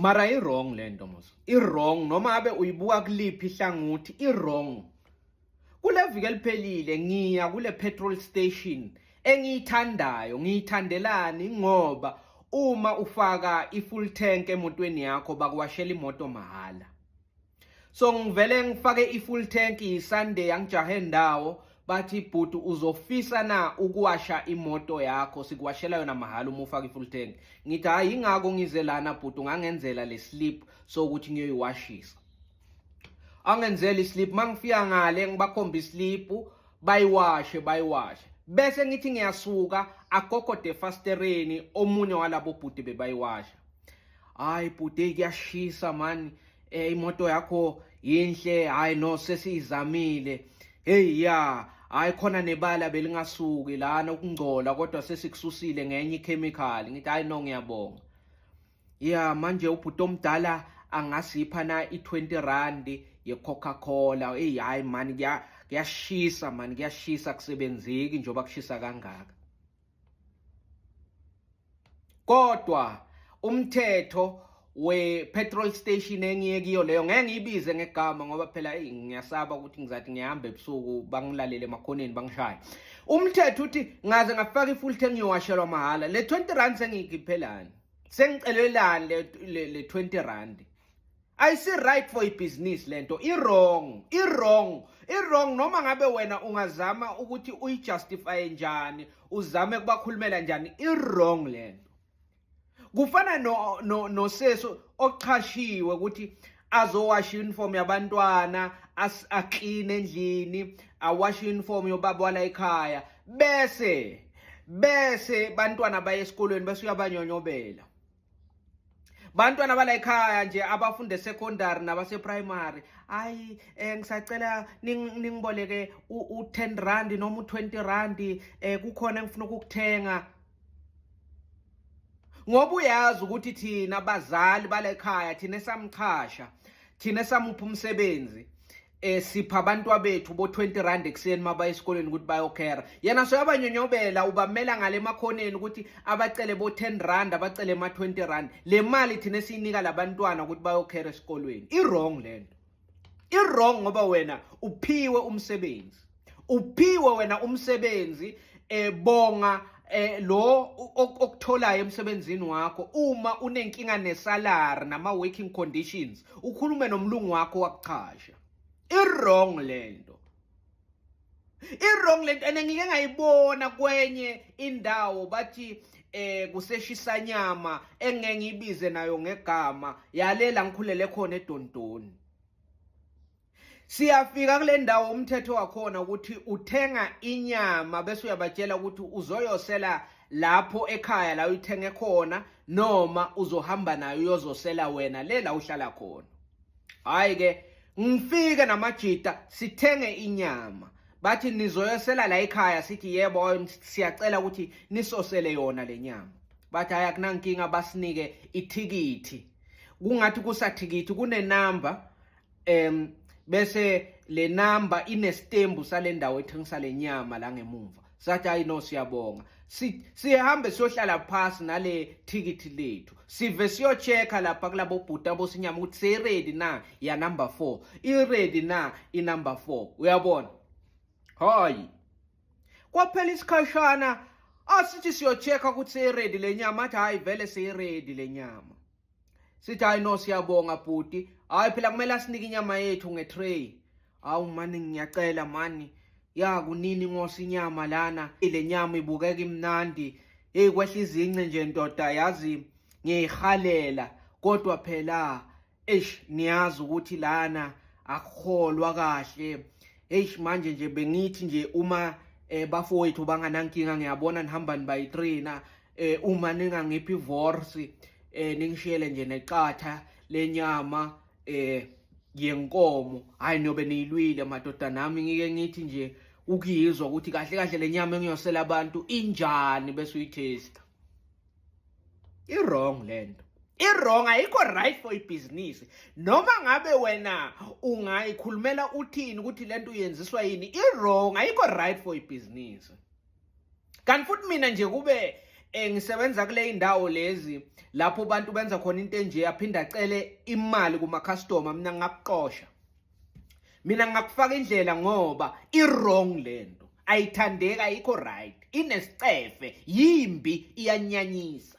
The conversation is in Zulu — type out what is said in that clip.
mara i-wrong le nto mos i-wrong noma abe uyibuka kuliphi ihlangothi i-wrong kule viki eliphelile ngiya kule petrol station engiyithandayo ngiyithandelani ngoba uma ufaka i-full tank emotweni yakho bakuwashela imoto mahhala so ngivele ngifake i-full tank yisunday yangijahe ndawo bathi bhuti uzofisa na ukuwasha imoto yakho sikuwashela yona mahhala uma ufaka i-full tank ngithi hhayi yingako ngize lana bhuti ungangenzela le slip sokuthi ngiyoyiwashisa angenzela islip uma ngifika ngale ngibakhomba islipu bayiwashe bayiwashe bese ngithi ngiyasuka agogo defastereni omunye walabo bhuti bebayiwasha hayi bhuti kuyashisa mani eh imoto yakho yinhle hayi no sesiyizamile hey ya hayi khona nebala belingasuki lana ukungcola kodwa sesikususile ngenye ichemical ngithi hayi no ngiyabonga ya manje ubhuti omdala angasipha na i20 rand yeCoca-Cola hey hayi mani kuyashisa mani kuyashisa kusebenzeki njengoba kushisa kangaka kodwa umthetho we petrol station engiye kiyo leyo ngeke ngiyibize ngegama ngoba phela hey ngiyasaba ukuthi ngizathi ngihamba ebusuku bangilalele emakhoneni bangishaye umthetho uthi ngaze ngafaka ifull tank ngiyowashelwa mahhala le 20 rand sengiyikiphelani sengicelelani le le 20 rand ayisi right for ibhizinisi lento i-wrong i-wrong i-wrong noma ngabe wena ungazama ukuthi uyijustifaye njani uzame kubakhulumela njani i-wrong lento kufana no no noseso ochashiwe ukuthi azowasha uniform yabantwana aclean endlini awasha uniform yobaba wala ekhaya bese bese bantwana baye esikolweni bese uyabanyonyobela bantwana bala ekhaya nje abafunde secondary nabase primary ayi eh ngisacela ningiboleke u10 rand noma u20 rand eh kukhona engifuna ukukuthenga ngoba uyazi ukuthi thina bazali bala ekhaya thina esamchasha thina samupha umsebenzi eh sipha abantwa bethu bo 20 rand ekuseni mabaya esikoleni ukuthi bayokhera yena so yabanyonyobela ubamela ngale makhoneni ukuthi abacele bo 10 rand abacele ma 20 rand le mali thina siyinika labantwana ukuthi bayokhera esikolweni i wrong lento i wrong ngoba wena uphiwe umsebenzi uphiwe wena umsebenzi ebonga eh, eh, lo okutholayo emsebenzini wakho uma unenkinga nesalary nama working conditions ukhulume nomlungu wakho wakuchasha i wrong lento i-wrong lento and ngike ngayibona kwenye indawo bathi eh kuseshisa nyama engeke ngibize nayo ngegama yalela ngikhulele khona edondoni Siyafika kule ndawo umthetho wakhona ukuthi uthenga inyama bese uyabatshela ukuthi uzoyosela lapho ekhaya la uyithenge khona noma uzohamba nayo uyozosela wena le la uhlala khona. Hayi ke ngifike namajita sithenge inyama bathi nizoyosela la ekhaya sithi yebo siyacela ukuthi nisosele yona lenyama bathi hayi akunankinga basinike ithikithi kungathi kusathikithi kunenamba em bese le number inestembu sale ndawo ethengisa le nyama la ngemumva sathi hayi no siyabonga sihambe siyohlala phasi nale thikithi lethu sive siyochecka lapha kulabo bhuti abosinyama ukuthi seyiready na ya number four iready na inumber four uyabona hayi kwaphela isikhashana asithi siyochecka ukuthi seyiready le nyama athi hhayi vele seyiready le nyama sithi hayi no siyabonga bhuti hayi phela kumele asinike inyama yethu ngetray hawu mani ngiyacela mani ya kunini ngosi inyama lana ile nyama ibukeka imnandi hey kwehla izince nje ndoda yazi ngiyihalela kodwa phela eish niyazi ukuthi lana akukholwa kahle eish manje nje bengithi nje uma eh bafowethu banganankinga ngiyabona nihamba nibayitrainer eh uma ningangiphi vorsi eh ningishiyele nje neqatha lenyama eh yenkomo hayi nobe niyilwile madoda nami ngike ngithi nje ukuyizwa ukuthi kahle kahle lenyama engiyosela abantu injani bese uyithesta i wrong lento iwrong ayikho right for ibhizinisi noma ngabe wena ungayikhulumela uthini ukuthi lento uyenziswa yini iwrong ayikho right for ibhizinisi kanti futhi mina nje kube eh ngisebenza kule indawo lezi lapho abantu benza khona into enje aphinda acele imali kuma customer mina ngakuqosha mina ngakufaka indlela ngoba i wrong lento ayithandeka ayikho right inesicefe yimbi iyanyanyisa